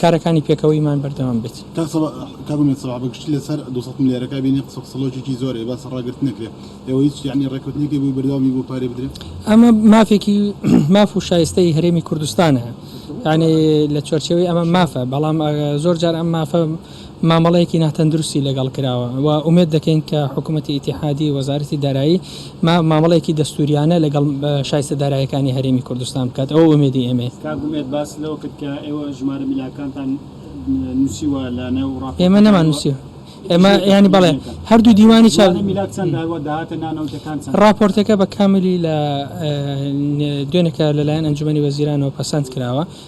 کارەکانی پێکەوەیمان بەردەوام بێت. کاک سەباح کاک ئومێد سەباح بە گشتی لە سەر دوو سەد ملیارەکە ئەبینێ قسە قسەڵۆکێکی زۆرە ئێ باسە ڕاگرتن نەکرێ ئێوە هیچ یەعنی ڕێکەوتنێکی بۆی بەردەوامی بۆ پارەی بدرێ؟ ئەمە مافێکی ماف و شایستەی هەرێمی کوردستانە یەعنی لە چوارچێوەی ئەمە مافە بەڵام زۆر جار ئەم مافە مامەڵەیەکی ناتەندروستی لەگەڵ کراوە و ئومێد دەکەین کە حکومەتی ئیتیحادی و وەزارەتی دارایی مامەڵەیەکی دەستووریانە لەگەڵ شایستە دارایەکانی هەرێمی کوردستان بکات، ئەوە ئومێدی ئێمەیە. کاک ئومێد باست لەوە کرد کە ئێوە ژمارە ملاکانتان نووسیوە لە نێو ڕاپۆرتەکانەوە، ئێمە نەمان نووسیوە، ئێمە یانی بەڵێ هەردوو دیوانی چاپ، ژمارە ملاک چەندە و داهاتە نانەوتەکان چەندە؟ ڕاپۆرتەکە بە کاملی لە دوێنێ کە لەلایەن ئەنجومەنی وەزیرانەوە پەسەند کراوە،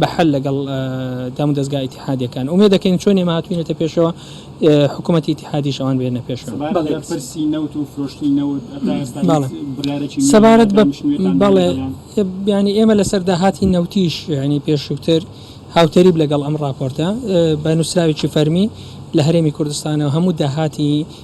بە حەل لەگەڵ دام و دەزگا ئیتیحادیەکان ئومێد دەکەین چۆن ئێمە هاتوینەتە پێشەوە حکومەتی ئیتیحادیش ئەوان بێنە پێشەوە. سەبارەت بە پرسی نەوت و فرۆشتنی نەوت هەتا ئێستا هیچ بڕیارێکی نوێ سەبارەت بە دامشنوێتان بەڵێ دەرهێنان؟ یانی ئێمە لەسەر داهاتی نەوتیش یانی پێشوتر هاوتەریب لەگەڵ ئەم ڕاپۆرتە بە نوسراوێکی فەرمی لە هەرێمی کوردستانەوە هەموو داهاتی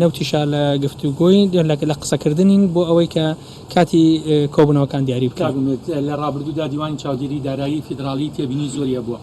نەوتیشا لە گفتوگۆین، لە قسەکردنین بۆ ئەوەی کە کاتی کۆبوونەوەکان دیاری بکەین. کاک ئومێد، لە ڕابردوودا دیوانی چاودێریی دارایی فیدراڵی تێبینیی زۆری هەبووە،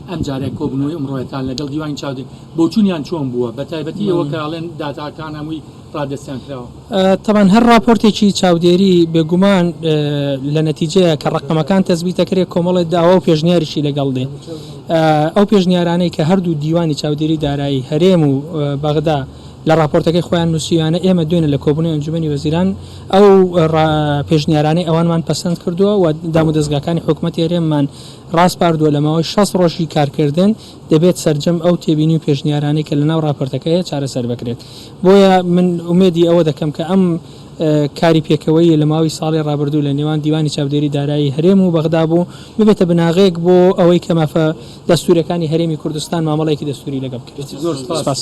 ئەمجارە کۆبوونەوەی ئەمڕۆیەتان لەگەڵ دیوانی چاودێر، بۆچوونیان چۆن بووە، بەتایبەتی ئەوە کە ئەڵێن داتاکان هەمووی ڕادەستیان کراوە؟ تەبعەن هەر ڕاپۆرتێکی چاودێری بێگومان لە نەتیجەیە کە ڕقەمەکان تەزبی دەکرێت کۆمەڵێت داوا و پێشنیاریشی لەگەڵ دێ ئەو پێشنیارانەی کە هەردوو دیوانی چاودێری دارایی هەرێم و بەغدا لە راپۆرتەکەی خۆیان نووسیویانە ئێمە دوێنە لە کۆبوونی ئەنجومی وەزیران ئەو پێشنیارانەی ئەوانمان پەسەند کردووە و دام و دەستگاکانی حکوومەت هەرێممان ڕاستپاردووە لە ماوەی 6 ڕۆژی کارکردن دەبێت سەرجەم ئەو تێبینی و پێشنیارانەی کە لەناو ڕاپۆرتەکە هەیە چارەسەر بکرێت، بۆیە من ئومێدی ئەوە دەکەم کە ئەم کاری پێکەوەییە لە ماوەی ساڵی ڕابردوو لە نێوان دیوانی چاودێری دارایی هەرێم و بەغدا بوو، ببێتە بناغەیەک بۆ ئەوەی کە مافە دەستوورییەکانی هەرێمی کوردستان مامەڵەیەکی دەستووری لەگەڵ بکرێت. سپاس.